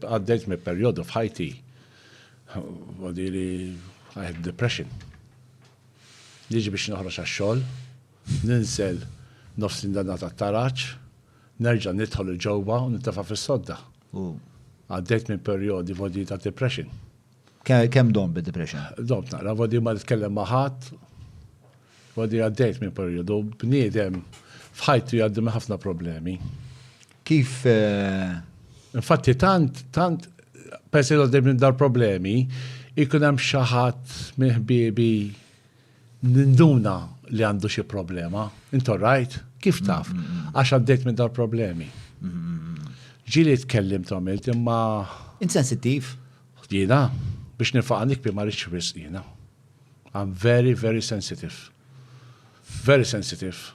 Għaddejt me perjodu f'ħajti għadi li I had depression. Liġi biex noħroġ għax-xogħol, ninsel nofs l-indana ta' taraċ, nerġa' nidħol il-ġewwa u nintefa' fis-sodda. Għaddejt minn perjodi vodi ta' depression. Kemm dom bid-depression? Dom naqra, vodi ma nitkellem ma' ħadd, vodi għaddejt minn perjodu, bniedem f'ħajtu jgħaddi minn ħafna problemi. Kif? Eh, Infatti tant, tant, persi għaddej minn dar problemi, ikun hemm xi ħadd minn ħbiebi ninduna li għandu xi problema. Intu rajt? Kif taf? Mm, mm, mm. Għax għaddejt minn dar problemi. Ġili tkellim tomilt imma. Insensittiv? Jiena, biex nilfaq għandikpi ma rridx wisq jiena. I'm very, very sensitive. Very sensitive.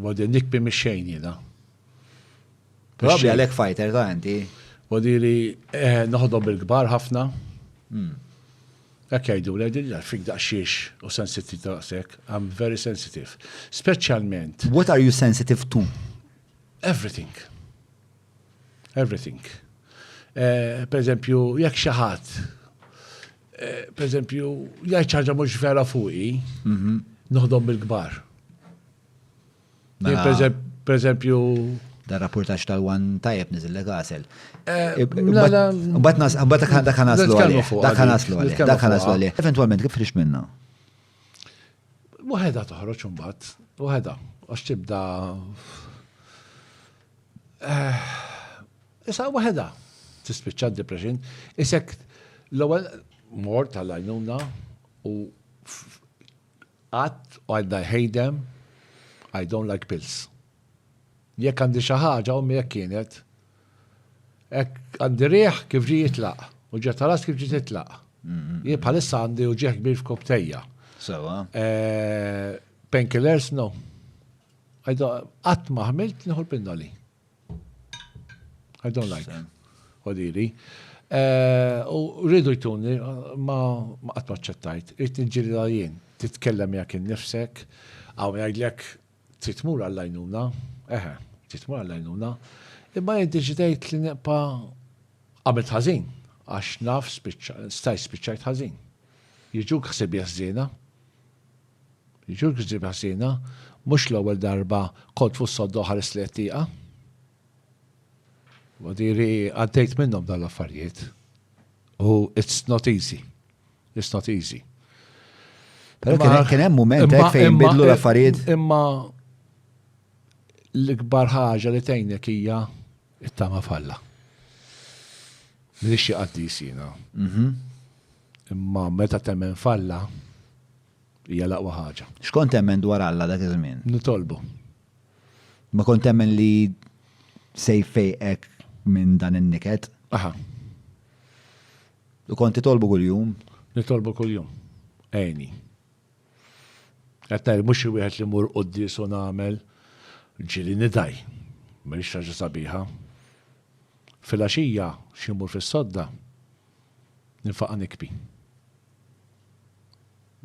Wadi nikpi mi xejn jiena. Probabli għalek fighter ta' inti. Wadi li eh, noħdom bil-kbar ħafna. Hmm. Ek jajdu, l-għedin fik daqxiex u sensitive daqsek, I'm very sensitive. Specialment. What are you sensitive to? Everything. Everything. Eh, per eżempju, jekk xi ħadd eh, per eżempju, jgħid ħaġa mhux vera fuqi, mhm. noħdom bil-kbar. Mela- per eżempju, dan rapportax tal-wan tajjeb nizille għasel. Eh, Bat nas, bat dak naslu għalli. Dak naslu għalli. Dak naslu għalli. Eventualment, kif rix minna? Waħeda toħroċ un bat, waħeda, għax tibda Issa waħedha tispiċċa depression, isek l-ewwel mor tal-għajnuna u qatt u għadna ħejdem I don't like pills. Jekk għandi xi ħaġa u jekk kienet hekk għandi riħ kif ġi jitlaq u ġiet talas kif ġi titlaq. Jien bħalissa għandi uġieħ kbir f'koptejja. Sewa. Eh, painkillers no. I don't, qatt ma ħmilt nieħu l-pinnoli. I don't like. Odili. Eh, u rridu jtuni, ma qatt ma ċċettajt, irrid nġilila jien, titkellem jak innifsek, għaw jgħidlek titmur għall-għajnuna, eħe, titmur għall-għajnuna, imma jiddeċidejt li neqpa għamilt ħażin, għax naf staj spiċċajt ħażin. Jiġu ksib jazzina, Jġurk ġdiebi ħżiena, mhux l-ewwel darba kont fuq s-sodda u ħarist lejn it-tieqa. Huwa diri għaddejt minnhom dawn l-affarijiet u it's not easy. It's not easy. Pero kien hemm mument hekk fejn bidlu l-affarijiet. Imma l-ikbar ħaġa li tgħinek hija it-tama falla. Minix xi qaddis jiena. Mhm. Imma meta temmen f'Alla, hija l-aqwa ħaġa. X'kont temmen dwar Alla dak iż-żmien? Nitolbu. Ma kont temmen li se jfejqek minn dan in-niket? Aha. U kont titolbu kuljum? Nitolbu kuljum. Għeni. Għattajr, mux il-wieħed li mur qoddis u nagħmel ġili nidaj. Mhix ħaġa sabiħa. Fil-għaxija xi mur fis-sodda. Ninfaqa' nikbi.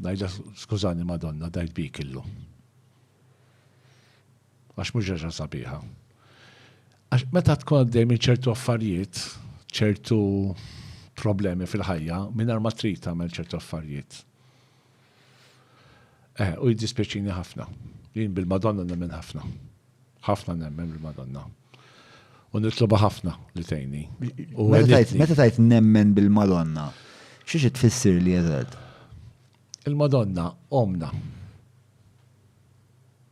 Ngħidla skużani Madonna dajt bik illu. Għax mhux għaxa sabiħa. Għax meta tkun għaddej minn ċertu affarijiet, ċertu problemi fil-ħajja, mingħajr ma trid tagħmel ċertu affarijiet. Eħe, u jiddispjaċini ħafna. Jien bil-Madonna nemmen ħafna. Ħafna nemmen bil-Madonna. U nitloba ħafna li tgħinni. Meta tajt nemmen bil-Madonna, xiex tfissir li eżad? Il-Madonna, omna.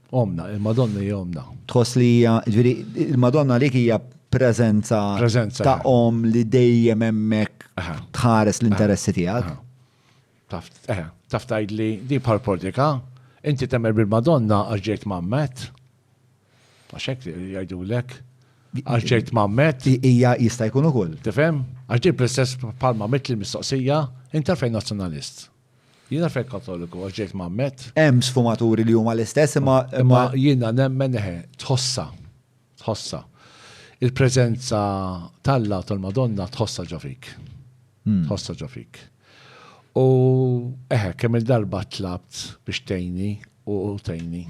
Omna, il-Madonna hija omna. Tħoss li hija, ġviri, il-Madonna li hija prezenza ta' om li dejjem hemmhekk tħares l-interessi tiegħek. Taf, eh, taf tgħidli di bħal prodika, inti temmer bil-Madonna għax ġejt mammet. Għax hekk jgħidulek. Għax ġejt mammet. Hija jista' jkun ukoll. Tifhem? Għax ġejt bl-istess bħal mammet li mistoqsija, inti fejn nazzjonalist. Jiena fejn katoliku għax ġejt mammet. Hemm sfumaturi li huma l-istess imma imma jiena nemmen eħe tħossa. Tħossa. Il-preżenza tal-la tal-Madonna tħossa ġofik. Hmm. Tħossa ġofik. U eħe, kemm-il darba tlabt biex tgħinni u tgħinni.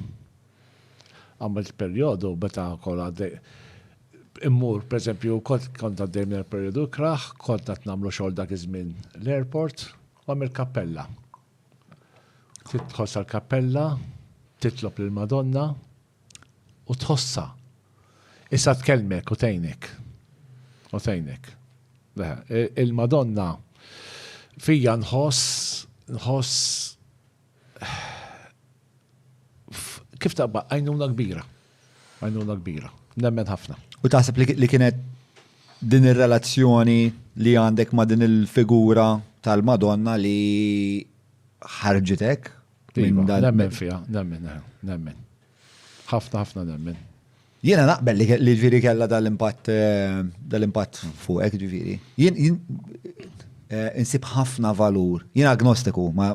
Għamilt perjodu meta kont għaddej immur, pereżempju, kont kont għaddej minn perjodu kraħ, kont qed nagħmlu xogħol dak iż-żmien l-airport, u għamilt kappella. Tidħol sal-kappella, titlob lill-Madonna, u tħossha. Issa tkellmek u tgħinek. U tgħinek. Il-Madonna fija nħoss nħoss kif taqba għajnuna kbira. Għajnuna kbira. Nemmen ħafna. U taħseb li kienet din ir-relazzjoni li għandek ma' din il-figura tal-Madonna li ħarġitek Iva, nemmen fija, nemmen, eh, nemmen. Ħafna, ħafna nemmen. Jiena naqbel li ġviri kella dal-impatt eh, dal-impatt fuqek ġviri. Jien eh, insib ħafna valur. Jien agnostiku, ma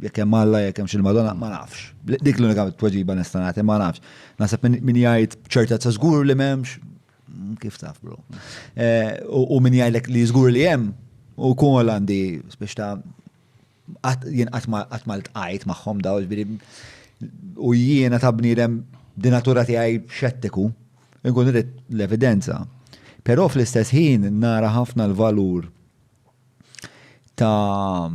jekk hemm Alla jekk hemm xil-Madonna ma nafx. Dik l-unika tweġiba nista' nagħti ma nafx. Naħseb min jgħid ċertezza żgur li m'hemmx mm, kif taf bro. Eh, u min jgħidlek li żgur li hemm u kun għandi biex ta' Jien qatt ma ltqajt magħhom daw, ġifieri u jiena ta' bniedem di natura tiegħi xettiku, inkun irid l-evidenza. Però fl-istess ħin nara ħafna l-valur ta'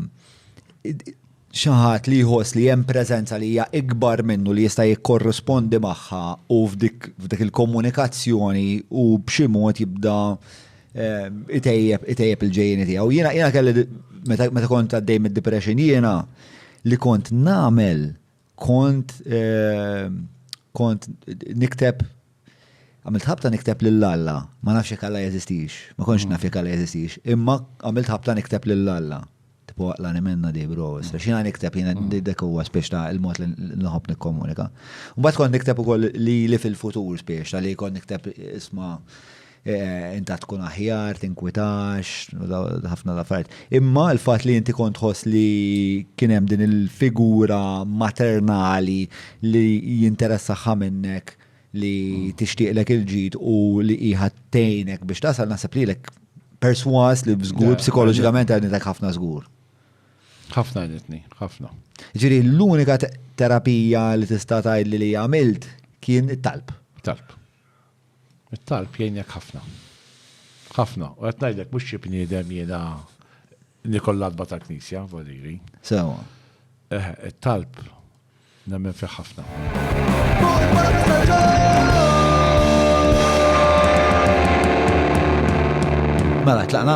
xaħat li jħoss li hemm preżenza li hija ikbar minnu li jista' jikkorrispondi magħha u f'dik il-komunikazzjoni u b'xi mod jibda Itejjeb, itejjeb il-ġejjeni tiegħu. Jiena jiena kelli meta kont għaddej mid-depression jiena li kont nagħmel kont eh, kont nikteb għamilt ħabta nikteb lil Alla, ma nafx jekk Alla jeżistix, ma kontx naf jekk Alla jeżistix, imma għamilt ħabta nikteb lil Alla. Tipo la ne menna di bro, issa xina nikteb jina dak huwa spiex ta' il-mod li nħobb nikkomunika. Mbagħad kont nikteb ukoll li li fil-futur spiex ta' li kont nikteb isma' eh, inta tkun aħjar, tinkwitax, ħafna l-affarijiet. Imma l-fatt li inti kont tħoss li kien hemm din il-figura maternali li jinteressaħħa minnek li tixtieqlek il-ġid u li hija tgħinek biex tasal naħseb li lek perswas li żgur psikoloġikament għanitek ħafna żgur. Ħafna għanitni, ħafna. Ġiri, l-unika terapija li tista' tgħid li li għamilt kien it-talb. Talb. It-talb jgħinek ħafna. ħafna. U qed ngħidlek mhux xi bniedem jiena Li kollha adba tal-Knisja, voliri. Sewa. Eh, it-talb nemmen fih ħafna. Mela, tlaqna?